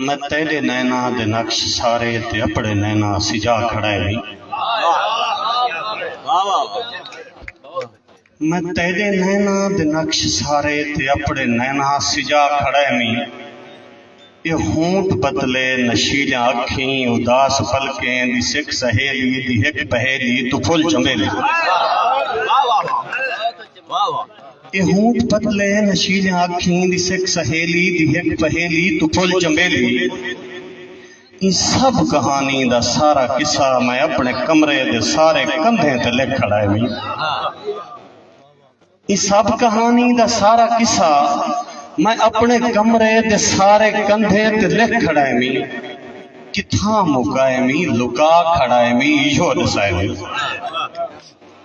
میں تیڈے نیناں دے نقش سارے تے اپڑے نیناں سجا کھڑائے نی۔ میں تیڈے نیناں دے نقش سارے تے اپڑے نیناں سجا کھڑائے نی۔ اے ہونٹ بتلے نشیلیاں اکھیں اداس پلکیں دی سک سہیلی دی ہک پہیلی توں پھل چنبیلی۔ اے ہونٹ پتلے نشیلیاں اکھیں دی سک سہیلی دی ہک پہیلی توں پھل چنبیلی ایں سبھ کہانی دا سارا قصہ میں اپݨے کمرے دے سارے کندھیں تے لکھ کھڑائے وی ایں سبھ کہانی دا سارا قصہ میں اپݨے کمرے دے سارے کندھیں تے لکھ کھڑائے وی کتھاں مکائے وی لکا کھڑائے وی ایہو ݙسائے وی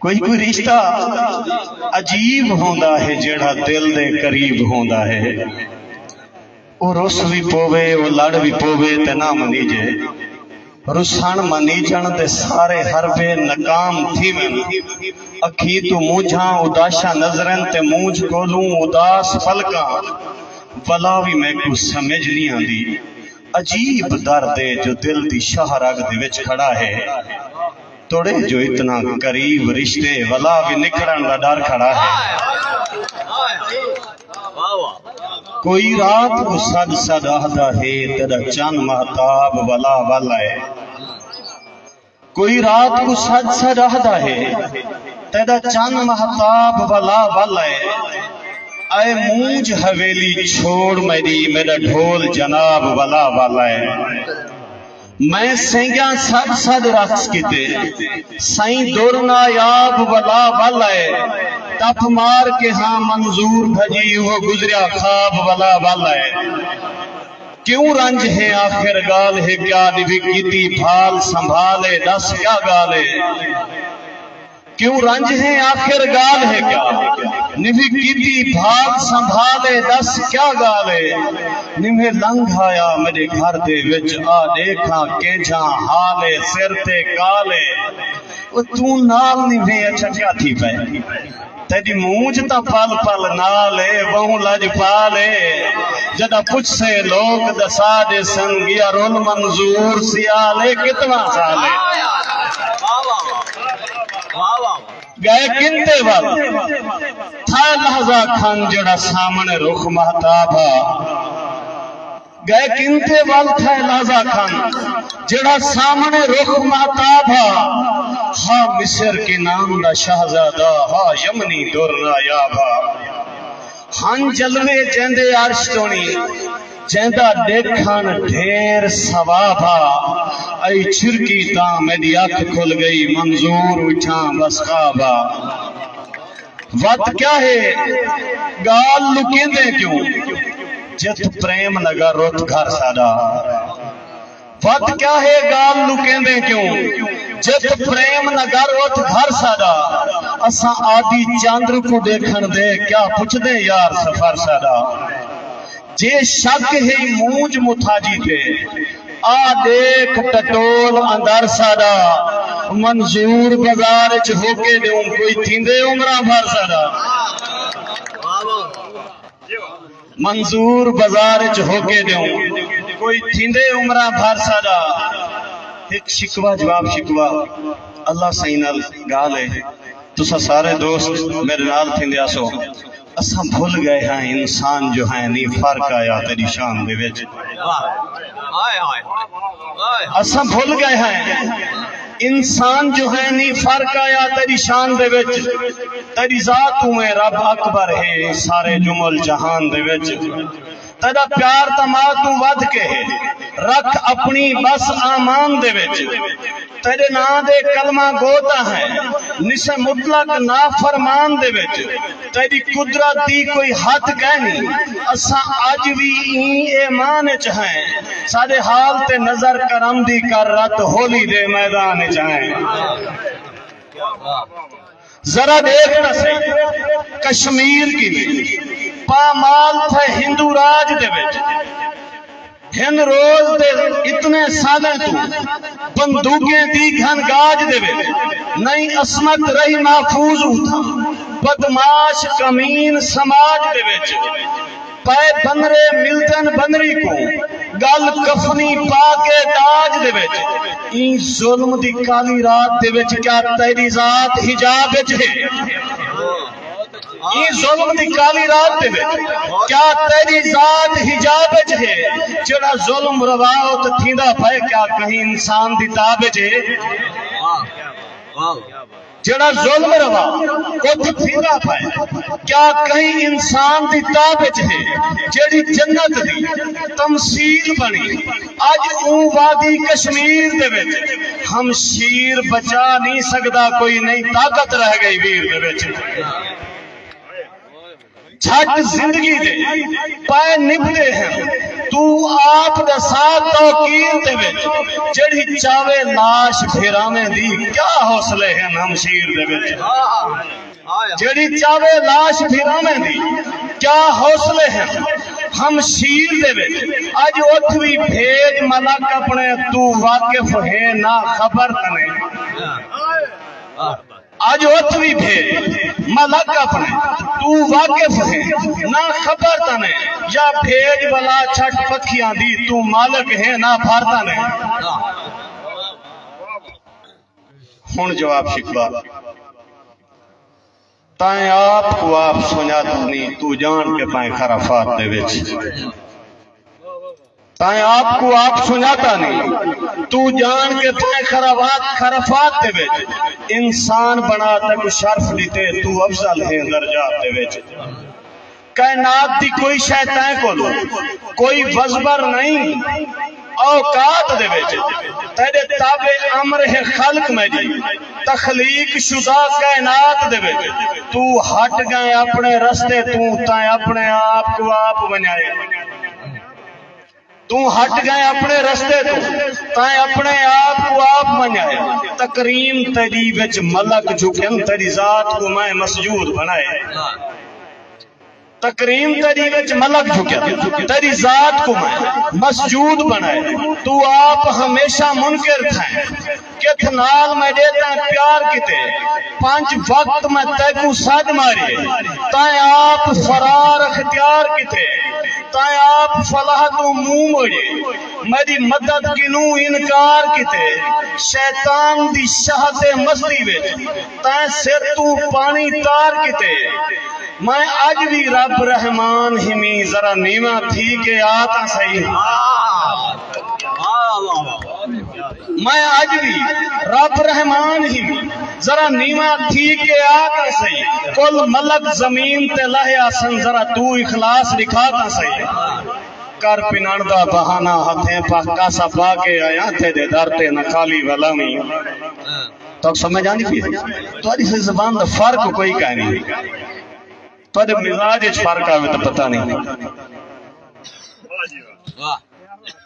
کوئی کوئی رشتہ عجیب ہوندا ہے جیڑھا دل دے قریب ہوندا ہے او رس وی پووے او لڑ وی پووے تے نہ منیجے رسن منیجن تے سارے حربے ناکام تھیون اکھی توں مونجھاں اداشاں نظرن تے مونجھ کولوں اداس پلکاں ولا وی میکوں سمجھ نی آندی عجیب درد ہے جو دل دی شاہ رگ دے وچ کھڑا ہے۔ تڑیں جو اتنا قریب رشتے ولا وی نکھڑن دا ڈر کھڑا ہے کوئی رات کو سد سد آہدا ہے تیرا چن محتاب ولا والا ہے کوئی رات کو سد سد آہدا ہے تیرا چن محتاب ولا والا ہے اے مونج حویلی چھوڑ میری میرا ڈھول جناب ولا والا ہے میں سینگیاں سد سد رقص کیتے سائیں در نایاب ولا ول ائے ٹپ مار کے ہاں منظور بھجی اوہو گزریا خواب ولا ول ائے کیوں رنج ہے آخر گال ہے کیا ڈوی کیتی بھال سنبھال اے ڈس کیا گال اے کیوں رنج ہیں آخر گالھ ہے کیا نوھی کیتی بھال سنبھال اے ڈس کیا گالھ اے نوھے لنگھ آیا میڈے گھر دے وچ آ ڈیکھ آں کینجھاں حال اے سر تے کال اے او توں نال نوھے اچھا کیا تھی پئے تیڈی مونجھ تاں پل پل نال اے بہوں لج پال اے جڈا پچھ سیں لوگ دسا ڈیسن گیا رول منظور سیال اے کتنا سال اے گئے کندے ول تھا لحظہ کھن جڑا سامنے رخ مہتاب ہا گئے کندے ول تھا لحظہ کھن جڑا سامنے رخ مہتاب ہا ہا مصر کے نام دا شہزادہ ہا یمنی در نایاب ہا ہن جلوے جیندے عرش تونی جیندا ڈیکھن ڈھیر ثواب ہا ائی چھرکی تاں میڈی اکھ کھل گئی منظور اٹھاں بس خواب ہا وت کیا ہے گال لکیندیں کیوں جت پریم لگا رت گھر ساڈا وت کیا ہے گال لکیندیں کیوں جت فریم نگر ات گھر ساڈا اساں آدی چندر کوں ڈیکھن دے کیا پچھدیں یار سفر ساڈا جے شک ہئی مونجھ متھاجی تے آ ڈیکھ ٹٹول اندر ساڈا منظور بزار اچ ہوکے ڈیوں کوئی تھیندے عمراں بھر ساڈا منظور بزار اچ ہوکے ݙیوں کوئی تھیندے عمراں بھر ساݙا ہک شکوہ جواب شکوہ اللہ سئیں نال ڳالھ اے تساں سارے دوست میݙے نال تھیندے آسو اساں بھل ڳئے ہیں انسان جو ہیں نی فرق آیا تیݙی شان دے وچ اساں بھل ڳئے ہیں انسان جو ہیں نی فرق آیا تیڈی شان دے وچ تیڈی ذات توں ہیں رب اکبر ہے سارے جمل جہان دے وچ تیڈا پیار تاں ماں توں ودھ کے ہے رکھ اپنی بس آمان دے وچ تیڈے ناں دے کلمہ گو تاں ہیں نسے مطلق نافرمان دے وچ تیݙی قدرت دی کوئی حد کائنی، اساں اڄ وی ایں ایمان اچ ہیں، ساݙے حال تے نظر کرم دی کر رت ہولی دے میدان اچ آئیں۔ ذرا ݙیکھ تاں سہی کشمیر کیویں پامال تھئے ہندو راج دے وچ۔ ہن روز دے اتنے سالیں توں بندوقیں دی گھن گاج دے ویلے نئیں عصمت رہی محفوظ اوتھاں بدمعاش کمین سماج دے وچ پئے بنرے ملدن بنری کوں گل کفنی پا کے داج دے وچ ایں ظلم دی کالی رات دے وچ کیا تیڈی ذات حجاب وچ ہے۔ ایں ظلم دی کالی رات دے وچ کیا تیری ذات حجاب وچ ہے جڑا ظلم روا او تے تھیندا پئے کیا کہیں انسان دی تاب وچ ہے جڑا ظلم روا او تے تھیندا پئے کیا کہیں انسان دی تاب وچ ہے جڑی جنت دی تمثیل بنی اج اوں وادی کشمیر دے وچ ہم شیر بچا نی سگدا کوئی نئی طاقت رہ گئی ویر دے وچ جھٹ زندگی دے پائے نبدے ہیں تو آپ دے ساتھ توقیر دے وچ جڑی چاوے لاش پھیراویں دی کیا حوصلے ہیں ہم شیر دے وچ جیڑھی چاوے لاش پھراویں دی کیا حوصلے ہن ہمشیر دے وچ اج اتھ وی بھیج ملک اپنے توں واقف ہے نہ خبر تنے اج اتھ وی بھیج ملک اپنے توں واقف ہے نہ خبر تنے یا بھیج بلا چھٹ پکھیاں دی توں مالک ہے نہ بھر تنے ہݨ جواب شکوا تائیں آپ کوں آپ سنڄاتا نیں توں ڄاݨ کے پائیں خرافات دے وچ تائیں آپ کوں آپ سنڄاتا نیں توں ڄاݨ کے پائیں خرافات خرافات دے وچ انسان بنا تک شرف ݙتے توں افضل ہیں درجات دے وچ کائنات دی کوئی شئے تیں کولو کوئی وزبر نئیں اوقات دے وچ تیڈے تابع امر ہے خلق میڈی تخلیق شدہ کائنات دے وچ تو ہٹ گئیں اپنے رستے توں تیں اپنے آپ کو آپ ونجائے توں ہٹ گئیں اپنے رستے توں تائیں اپنے آپ کوں آپ منجائے تکریم تیڈی وچ ملک جھکن تیڈی ذات کوں میں مسجود بنائے تکریم تیری وچ ملک جھکیا تیری ذات کو میں مسجود بنائے تو آپ ہمیشہ منکر تھا کتھ نال میں ݙے تئیں پیار کیتے پنج وقت میں تیکوں سݙ ماری تئیں آپ فرار اختیار کیتے تئیں آپ فلاح توں منہ موڑی میݙی مدد کنوں انکار کیتے شیطان دی شہد مستی وچ تئیں سر توں پاݨی تار کیتے میں اڄ وی رب رحمان ہیویں ذرا نیواں تھی کے آ تاں سہی ہاں۔ میں اج وی رب رحمان ہی ذرا نیوا تھی کے آ تاں سہی کل ملک زمین تے لہے آسن ذرا توں اخلاص ڈکھا تاں سہی کر پنن دا بہانہ ہتھیں پا کاسا پا کے آیاں تیڈے در تے نہ خالی ولاویں توک سمجھ آندی پی ہے تہاڈی سے زبان دا فرق کوئی کائے نہیں تہاڈے مزاج وچ فرق آوے تاں پتہ نہیں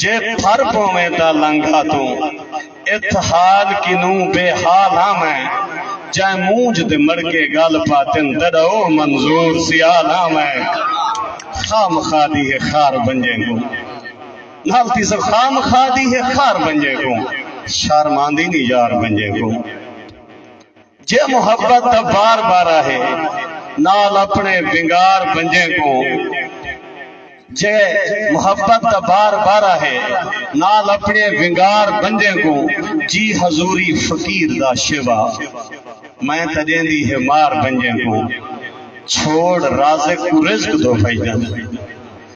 جے پھر پوویں تاں لنگھا توں اتھ حال کنوں بے حال ہاں میں جائیں مونجھ دے مڑکے گل پاتن تڈو منظور سیال ہاں میں خواہ مخواہ دی ہے خار بنجے کوں نال تیسر خواہ مخواہ دی ہے خار بنجے کوں شرم آندی نی یار بنجے کوں۔ جے محبت دا بار بارا ہے نال اپنے ونگار بنجیں کوں جے محبت دا بار بارا ہے نال اپنے ونگار بنجیں کوں جی حضوری فقیر دا شیوا میں تاں ݙیندی ہے مار بنجیں کوں چھوڑ رازق کوں رزق دو بھائی جان۔